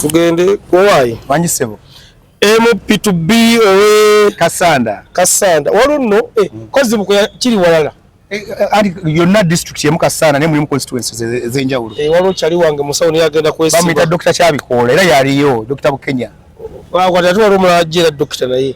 tugende owayi manyi sebo mp to b owe kasanda kasanda waliwo nno eh, mm. kozibuko kiri walala eh, eh, ali yonna district yemu kasanda naye mulimu constituencies e-, ezenjawulo waliwo kyali wange musawo naye agenda kwesiba bamuyita dokita kyabikoola era yaliyo dokita bukenya waliwo omulala ajja era dokita naye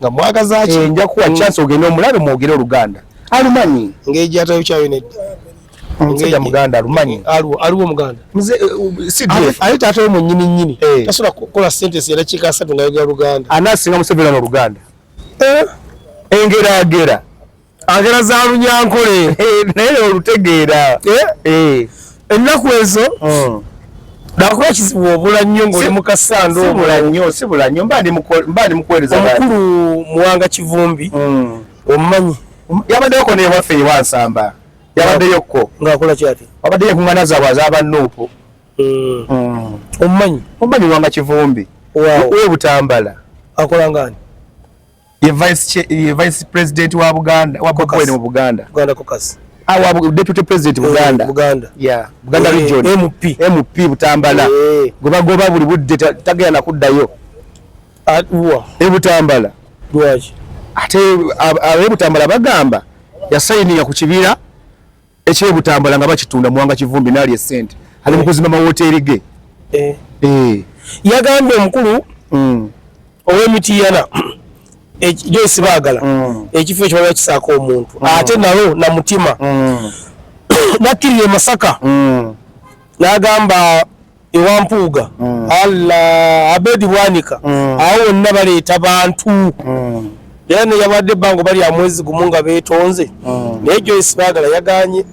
nga mwagaza ki eh, nja kuwa mm. chance ogende omulabe mwogere oluganda alumanyi ngeji atayo kyayo ne ngeji muganda alumanyi alu alu muganda mze eh, uh, sidwe ah, ayo tato mu nyini nyini eh. tasula kola sentence era chika satu nga yogera luganda anasinga musevera no luganda eh engera agera agera za lunyankole eh, naye olutegeera eh? eh. ennaku ezo oh. nakuba ekizibu obula nnyo ngaoli mukasandoobula nnyo sibula nnyo mba ndi mukuwereza omukulu muwanga kivumbi hmm. omumanyi yabaddeyoko newaffe ewansamba yabaddeyokko ngaakola kyati wabaddeyo enkuŋana zaabwe azabannuupu hmm. hmm. omumanyi omumanyi muwanga kivumbi webutambala akola ngaani ye vice ye vice president wa Buganda wa Buganda mu Buganda Buganda caucus awa ah, deputy president eh, Buganda Buganda yeah Buganda eh, region MP MP Butambala eh. goba goba buli budde tagaya na kuddayo atwa ah, e Butambala lwaki ate abe Butambala bagamba ya signing ya kukibira eky'e Butambala nga bakitunda Muwanga Kivumbi n'alya essente ali mu kuzimba mawooteeri ge eh. Eh. yagambye omukulu mm. ow'emitiyana Joyce Baagala mm. ekifo ekyo baba kisaako omuntu mm. ate nalo na mutima nakkirira e Masaka n'agamba ewa Mpuuga mm. Allah Abedi Bwanika mm. awo wonna baleeta bantu mm. era ne yabadde ebbanga bali amwezi gumu nga beetonze mm. naye Joyce Bagala yaganye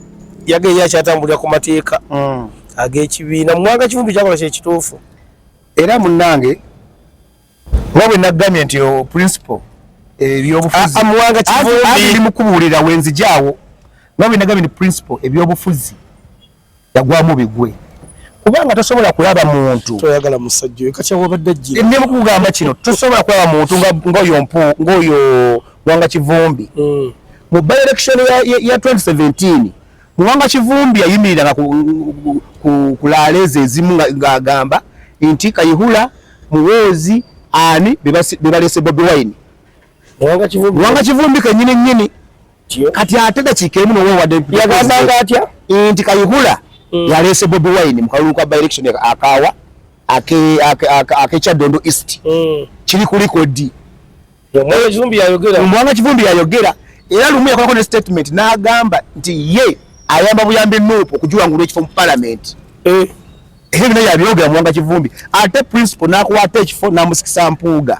yageye akyatambulira ku mateeka mm. ag'ekibiina mu mwaka kivumbi kyakola kyekituufu era munnange nga bwe naggambye nti principal ebyobufuzi ah, muwanga kivumbi mukubuulira wenzijaawo nga bwe naggambye nti principal ebyobufuzi yagwamu bigwe kubanga tosobola kulaba muntu toyagala musajja oyo kati awabadde ajjira eh, nemu kugamba kino tosobola kulaba muntu ng'oyo mpu ng'oyo wanga kivumbi mm. mu by election ya 2017 muwanga kivumbi yayimiriranga ku laaleeza ezimu ng'agamba nti kayihula muwoozi ani be baleese bobi wine muwanga kivumbi kenyini nyini kati ate dakiika emu nowewadeyagambanga atya nti kayihula mm. yaleese bobi wine mu kalulu ka byelection akaawa akekyadondo east mm. kiri ku likodi omwana kivumbi yayogera era lumu yakolako ne statement n'agamba nti ye ayamba buyambi nuupu okugiwangula ekifo mu palamenti eh. ebyo bino yabyogera muwanga kivumbi ate principal n'akwata ekifo n'amusikisa mpuuga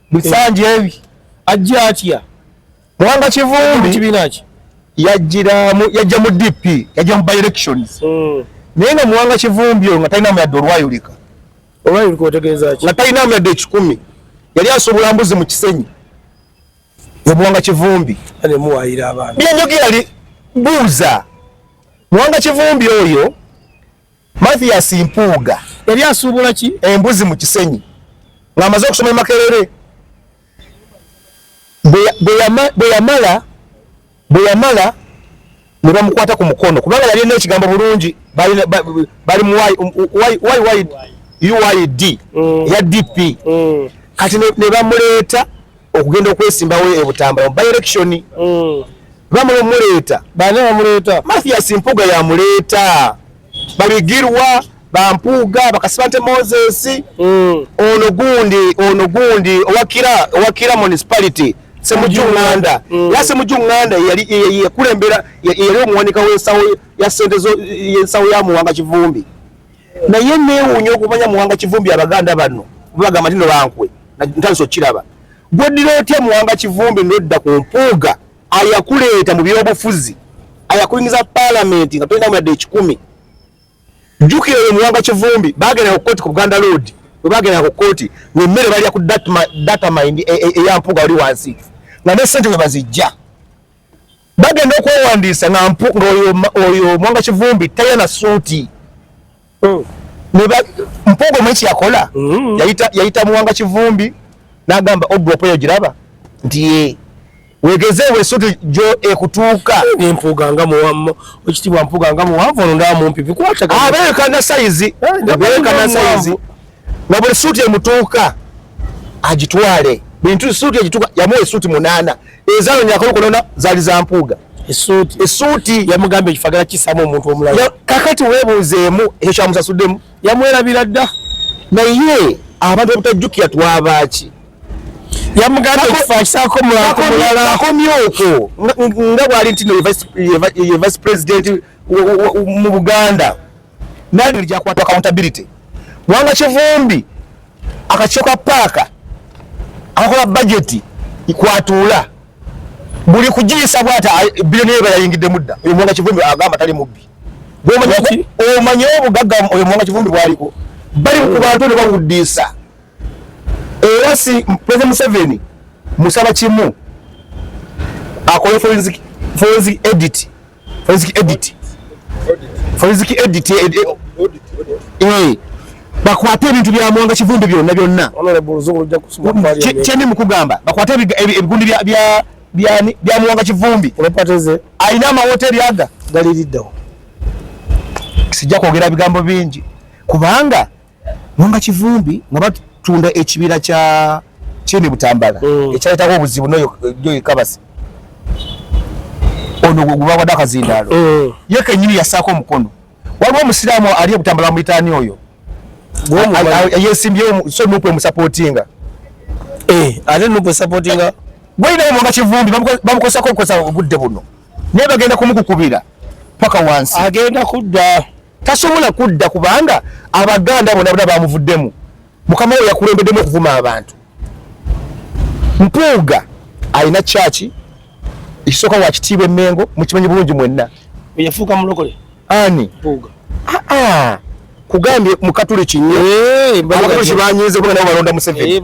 bisanja ebi ajja atya mwanga kivumbi kibiina ki yajjiramu yajja mu dp yajja mu by elections hmm. naye nga muwanga kivumbi oyo nga talinamu yadde olwayulika olwayulika otegeeza ki nga talinamu yadde ekikumi yali asobola mbuzi mu kisenyi omuwanga kivumbi anemuwayira abantu byenjogera li buuza muwanga kivumbi oyo Mathias Mpuuga yali asuubula ki embuzi mu Kisenyi ng'amaze okusoma e Makerere bwe yamala bwe yamala ne bamukwata ku mukono kubanga yali alina ekigambo bulungi bali mu uid ya dp mm. mm. kati ne bamuleeta okugenda okwesimbawo e Butambala mu by-election mm. bamala omuleeta bani bamuleeta Mathias Mpuuga yamuleeta babigirwa bampuuga bakasibante Moses mm. ono gundi ono gundi owakira owakira municipality semujunganda mm. ya semujunganda yali yakulembera yali omuwanika w'ensawo ya sente y'ensawo ya muwanga kivumbi naye newuunya okumanya muwanga kivumbi abaganda bano bagamba tino bankwe ntandisa okukiraba gweddira otya muwanga kivumbi nodda ku mpuuga ayakuleeta mu byobufuzi ayakuyingiza palamenti nga tolina muyadde ekikumi jjukira oyo muwanga kivumbi bagendanga ku kooti ku buganda load bwe bagendanga ku kooti ngemmere balya ku data mind e, e, eya mpuuga wali wansi nga ne sente bwe bazijja bagenda okwewandiisa ngaoyo mwanga kivumbi taya na suuti oh. mpuuga omwe kyeyakola mm-hmm. yayita muwanga kivumbi nagamba odropo eyo giraba nti ye wegezeewo esuuti gyo ekutuuka mpuuga nga muwammo ekitibwa mpuuga nga muwanvu ono ndaba mumpi bikwatagaabeekana sayizi beekana sayizi nga buli suuti emutuuka agitwale bintu suuti egituuka yamuwa esuuti munaana ezaalo nyakolo konona zaali za mpuuga esuuti esuuti yamugambye ekifagala kisaamu omuntu omulala kakati weebuuzeemu ekyo kyamusasuddemu yamwerabira dda naye abantu obutajjukira twabaaki yamugambyekifakisaakomulakomye okwo nga bwali ntino ye vice president mu buganda nani alija kwata accountability wanga kivumbi akachoka paka akakola budget ikwatula buli kujisa bwata bilioni eba yayingide mudda uyo mwanga kivumbi agamba tali mubbi gomanya omanya obugagga uyo mwanga kivumbi bwaliko bali ku bantu ne bawudisa era si president Museveni musaba kimu akole forensic forensic edit forensic edit forensic edit eh, eh, eh, bakwate ebintu bya mwanga kivundu byonna byonna kyeni mukugamba bakwate ebigundi bya mwanga kivumbi alina amawoteri aga galiliddawo sijja kwogera bigambo bingi kubanga Mwanga Kivumbi nga batunda ekibira kya Chini Butambala mm. ekyaletawo obuzibu noyo Joy Kabasi ono gwe guba wadaka zindalo mm. ye kenyini yasako omukono waliwo omusiraamu ali obutambala muyitaani oyo yesimbyewo so nupu emusapotinga eh, ate nupu esapotinga gweyinawo mwanga Kivumbi bamukozesako okukozesa obudde buno naye bagenda kumukukubira paka wansi agenda kudda tasobola kudda kubanga abaganda bona bona bamuvuddemu mukama we yakulembeddemu okuvuma abantu mpuuga alina kyaki ekisooka wakitiibwa emengo mukimanyi bulungi mwenna eyafuuka mulokole ani mpuuga ah, ah. kugambye mukatuliki nyo eh, abakatuliki banyiize kuba nabo balonda museveni eh,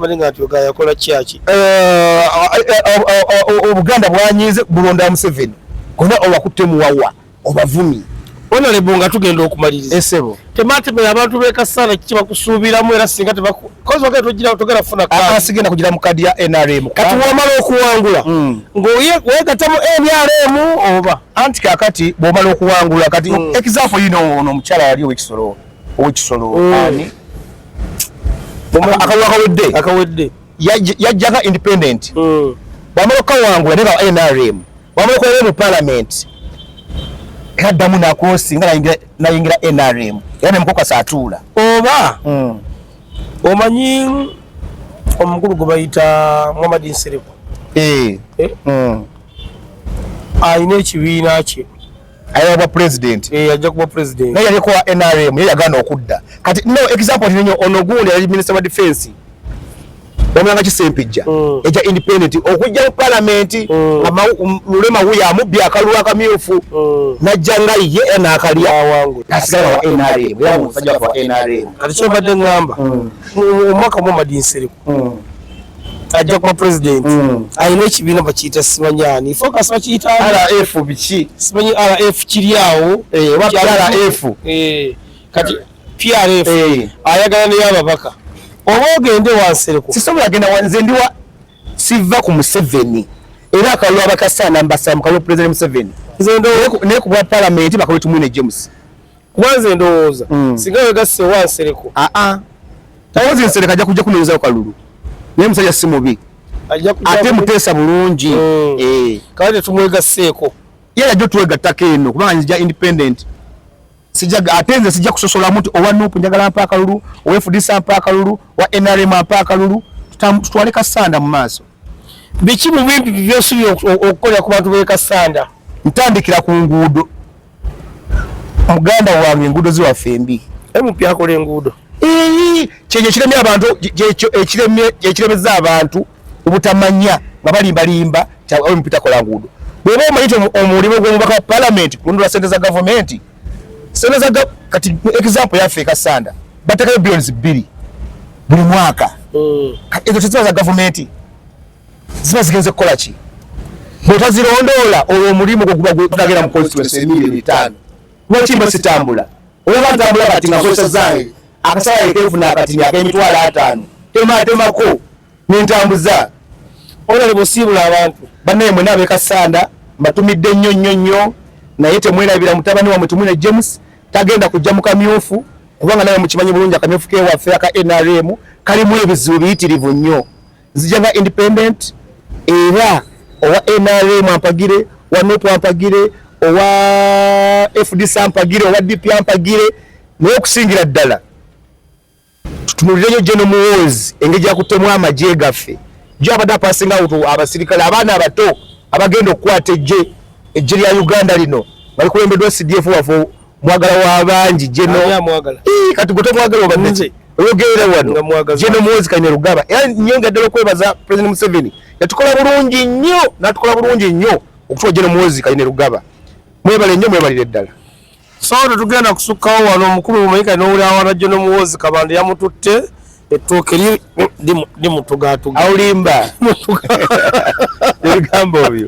eh, obuganda bwanyiize bulonda museveni gona owakutte muwawa obavumi onalebo nga tugenda okumaliriza esebo eh, tematemera abantu bekasaana kiki bakusuubiramu era singa tebakugera funa asigenda kugira mu kadi ya nrm kati wamala okuwangula hmm. ngawegatamu nrm oba anti kakati bwomala okuwangula kati hmm. example yino ono omukyala yali owekisolo owekisolo hmm. ani akawakawedde akawedde yajjaka independent mm. bwamala okukawangula ne ba nrm bwamala okulaba mu palamenti era ddamu nakosi nga nayingira nrm era nemukokasa atuula oba mm. omanyi omukulu gwe bayita muhammad nsiriku eh. eh? mm. alina ekibiina kye ayaba bwa president eh ajja kuba president naye yaliko wa NRM yeye agana okudda kati no example ninyo onogundi yali minister wa defense omulanga kisempijja mm. eja independent okujja mu parliament mm. ama um, lulema huya amubbi akalulu akamyufu mm. najja nga ye ena akalya wangu asigala wa NRM yali musajja wa NRM kati kyobadde ngamba mm. omwaka mm. mu madinsiriku mm. ajja kuba president mm. alina ekibiina bakiyita simanyi ani focus bakiyita rf biki simanyi rf kiri awo eh, oba rf eh, kati prf eh. ayagala naye ababaka oba ogende wansereko sisobola genda wanze ndi wa siva ku museveni era akalulu abakasaana mbasamukalulu president museveni naye ku bwa palamenti bakalwe tumwine james kuba nze ndowooza mm. singa wegasse wa nsereko aa ah, ah. tawozi nsereko ajja kujja kunonyezao kalulu naye musajja si mubi ate muteesa bulungi mm. eh. kaba tetumwegasseeko ye yajja otwegattako eno kubanga nzija independent sijaga ate nze sijja kusosolamu nti owa nupu njagala mpa akalulu owa fdc mpa akalulu owa nrm mpa akalulu tutwale kasanda mu maaso biki mu bintu byosubira okukolera ku bantu b'e kasanda ntandikira ku nguudo muganda wange enguudo ziwaffe mbi emupi akola enguudo kyekyo ekiremye abantu ekiremeza abantu obutamanya nga balimbalimba emupi takola nguudo bweba omanyi ti omulimu gwomubaka wa palamenti kununula sente za gavumenti sente za kati example yaffe ekasanda batekayo billions bbiri buli mwaka hmm. ezo teziba za gavumenti ziba zigenze kukola ki bwotazirondoola olwo omulimu gwo guba gutagera mu constituency emilioni etaano lwaki mba sitambula olaba ntambula kati nga kozesa zange akasala yekefuna akatini akemitwalo ataano tematemako nentambuza olale bosiibula abantu banaye mwena abekasanda mbatumidde nnyo nnyo nnyo naye temwerabira mutabani wamwe tumwine james tagenda kujja mu kamyufu kubanga naye mukimanyi bulungi akamyufu kewaffe aka nrm kalimu ebizibu biyitirivu nnyo nzija nga independent era owa nrm ampagire wa nup ampagire owa fdc ampagire owa dp ampagire naye okusingira ddala tutunulirenyo geno muwoozi engeri gyakutemu amagye gaffe jo abadde apasinga wutu abasirikale abaana abato abagenda okukwata ejje ejje lya uganda lino balikulembeddwa cdf waffe mwagala wa bangi jeno kati gwe tomwagala obadde oyogerera wano jeno muwozi kanyarugaba era nyo nga ddala okwebaza president museveni yatukola bulungi nnyo natukola bulungi nnyo okutuwa jeno muwozi kanyarugaba mwebale nnyo mwebalire ddala so tetugenda kusukkawo wano omukulu mumanyika nowulawala jeno muwozi kabanda yamututte ettooke lye limutugatuga awulimba ebigambo obyo